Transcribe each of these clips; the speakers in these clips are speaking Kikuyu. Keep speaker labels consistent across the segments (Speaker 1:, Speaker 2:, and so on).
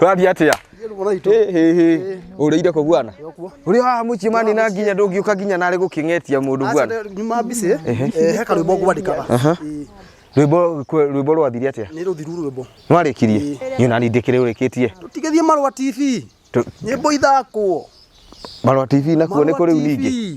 Speaker 1: Ũrathiĩ atĩa? Hĩ, hĩ, hĩ. Ũrĩire kũ bwana? Ũrĩ haha mũciĩ mani na nginya ndũngĩũka nginya narĩ gũkĩng'etia mũndũ bwana. nyuma mbici eh, he karwĩmbo ngwandĩkaga Aha. Ĩĩ, Rwĩmbo kwe- rwĩmbo rwathiri atĩa? nĩ rũthiru rwĩmbo Nwarĩkirie? Niĩ nani ndĩkĩrĩ ũrĩkĩtie. tũtigĩthiĩ marwa tv Tu- nyĩmbo ithakwo Marwa TV nakuo nĩ kũrĩu ningĩ.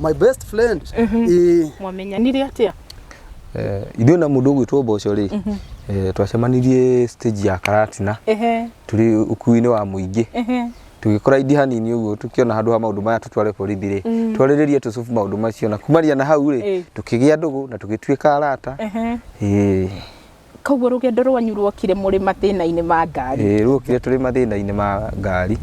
Speaker 1: my best friend eh, mwamenyanire atia Eh, ithuĩ na mũndũ ũgwĩtwo mboco rĩ eh, twacemanirie stage ya karatina ehe tũrĩ ũkuinĩ wa mũingĩ ehe tũgĩkora indi hanini ũguo tũkĩona handũ ha maũndũ maya tũtware borithi rĩ twarĩrĩrie tũcubu maũndũ macio na kumania na hau rĩ Eh. tũkĩgĩa ndũgũ na tũgĩtuĩka arata ehe Eh, Koguo rũgendo rwanyu ruokire mũrĩ mathĩna-inĩ ma ngari. Ĩĩ, ruokire tũrĩ mathĩna-inĩ ma ngari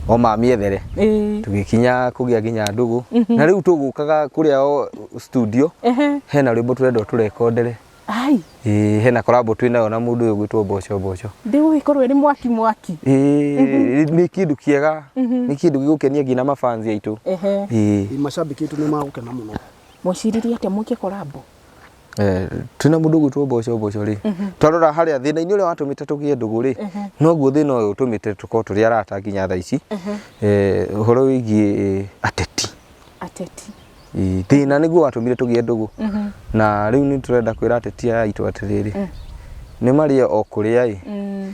Speaker 1: o ma mĩethere Ĩĩ. tũgĩkinya kũgĩa nginya ndũgũ na rĩu tũgũkaga kũrĩa o studio Ehe. hena rwĩmbo tũrenda tũrekondere Ai, Ĩĩ, hena korambo twĩ nayo na mũndũ ũyũ ũgwĩtwo mboco mboco ndĩũ ĩkorwo ĩrĩ mwaki mwaki. Ĩĩ, nĩ kĩndũ kĩega nĩ kĩndũ gĩgũkenia nginya mafans aitũ Ehe. Ĩĩ. Ĩĩ, macambĩki aitũ nĩ magũkena mũno. Mweciririe atĩa mũikie korambo? Eh, twĩ na mũndũ ũgwĩtwo mboco mboco rĩ mhm. twarora harĩa thĩna-inĩ ũrĩa watũmĩte tũgĩe ndũgũ rĩ mhm. noguo thĩna ũyũ ũtũmĩte tũkorwo tũrĩ arata nginya thaa ici mhm. eh, ũhoro wĩgiĩ eh, ateti ateti thĩna nĩguo watũmire tũgĩe ndũgũ na rĩu nĩ tũrenda kwĩra ateti aya aitũ atĩrĩrĩ mm. nĩ marĩe o kũrĩa ĩ mm.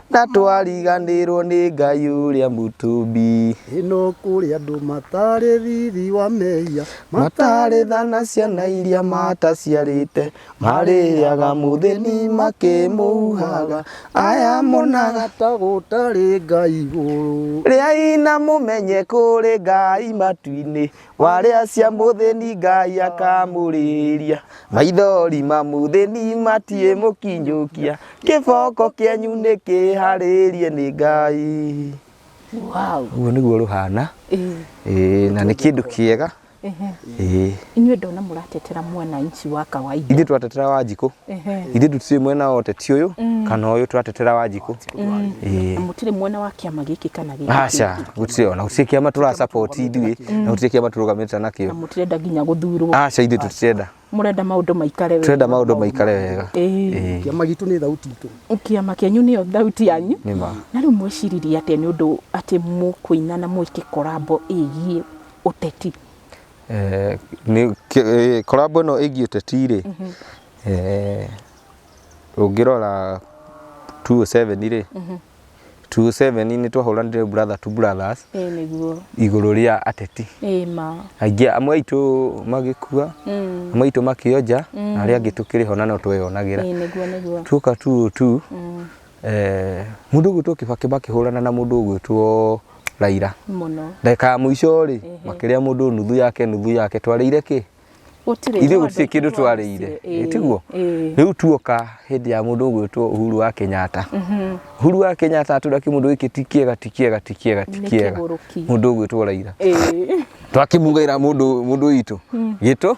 Speaker 1: Na twariganĩrwo nĩ Ngai ũrĩa mũtũmbi. Ĩno kũrĩ andũ matarĩ thithi wa mehia. Matarĩ tha na ciana iria mataciarĩte. Marĩaga mũthĩni makĩmũhuhaga. Aya monaga ta gũtarĩ Ngai igũrũ. Rĩai na mũmenye kũrĩ Ngai matu-inĩ. warĩa cia mũthĩni ngai akamũrĩria maithori ma mũthĩni matiĩ mũkinyũkia kĩboko kĩanyu nĩ kĩharĩrie nĩ ngai wow ũguo nĩguo rũhana eh Ĩĩ, na nĩ kĩndũ kĩega eh Ĩĩ. inyuĩ ndona mũratetera mwananchi wa kawaida ithuĩ twatetera wanjikũ ithe tutire mwena wote ti uyu mm. kana uyu turatetera wanjiku mm. eh. mutire mwena wa kiama giki kana giki acha gutire ona gutire kiama tura support ithui mm. na gutire kiama turugamirite nakio mutire nda nginya guthurwo acha ithe tutirenda murenda maundu maikare wega turenda maundu maikare wega eh. eh. kiama gitu ni thauti itu kiama kianyu ni thauti yanyu na riu mwiciririe atia ni undu ati mukuina na mwike korabo igie uteti Eh, nĩ- kĩ- eh, korambo ĩno ĩgiĩ ũteti rĩ eh, ũngĩrora 207 rĩ 207 nĩ twahũranire brother to brothers ĩĩ nĩguo igũrũ rĩa ateti ĩĩ ma aingĩ amwe aitũ magĩkua Mm. amwe aitũ makĩonja na arĩa angĩ tũkĩrĩ ho na no tweyonagĩra ĩĩ nĩguo nĩguo tuoka tu tu Eh, mundu ugwitwo kibaki makihurana na mundu ugwitwo raira muno ndagika ya muico ri makiria mundu nuthu yake nuthu yake twariire ki gutire ithu gutire kindu twariire tiguo riu tuoka hindi ya mundu ugwitwo uhuru wa kenyatta mhm. uhuru wa kenyatta atura ki mundu giki ti kiega ti kiega ti kiega ti kiega mundu ugwitwo raira twakimugaira mundu mundu itu gitu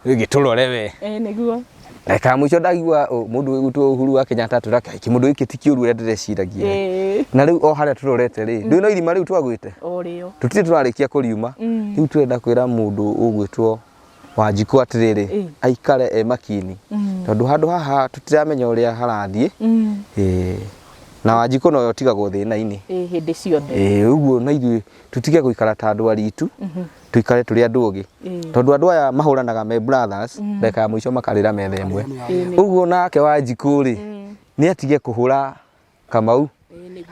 Speaker 1: gĩtũrore we Eh, nĩguo reka mũico ndagua ũ, mũndũ ũyũ gwitũ Uhuru wa Kenyatta atwĩra kaiki mũndũ gĩkĩ ti kĩũru ũrĩa ndĩreciragia Eh, na rĩu o harĩa tũrorete rĩ ndũĩ no irima rĩu twagwĩte o rĩo tũtirĩ tũrarĩkia kũriuma Mm. rĩu tũrenda kwĩra mũndũ ũgwĩtwo wanjikũ atĩrĩrĩ Eh. aikare e makini Mm. tondũ handũ haha tũtiramenya ũrĩa harathiĩ Mm. Eh, na wanjikũ noyo tigagwo thĩna-inĩ Eh, hĩndĩ ciothe Eh, ũguo na ithuĩ tũtige gũikara ta andũ aritu tuikare tũrĩ andũ ũgĩ tondũ andũ aya mahũranaga me brothers ndagĩka ya mũico makarĩra metha ĩmwe ũguo nake wanjikũ rĩ nĩ atige kũhũra kamau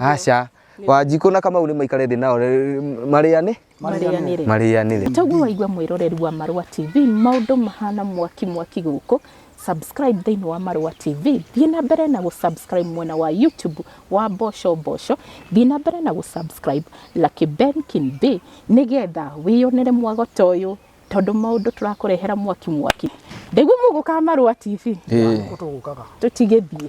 Speaker 1: aca wanjikũ na kamau nĩ maikare thĩ nao rĩ- marĩane marĩanĩre marĩanĩre Toguo waigua mwĩroreri wa Marũa TV maũndũ mahana mwaki mwaki gũkũ subscribe thĩinĩ wa Marũa TV, thiĩ na mbere na gũ subscribe mwena wa YouTube wa Mboco Mboco, thiĩ na mbere na gũ subscribe Lucky Ben Kimbe nĩgetha wĩyonere mwagota ũyũ tondũ maũndũ tũrakũrehera mwaki mwaki. Ndaigua mũgũkaga Marũa TV, Ĩĩ. Tũgũkaga. tũtigĩthiĩ.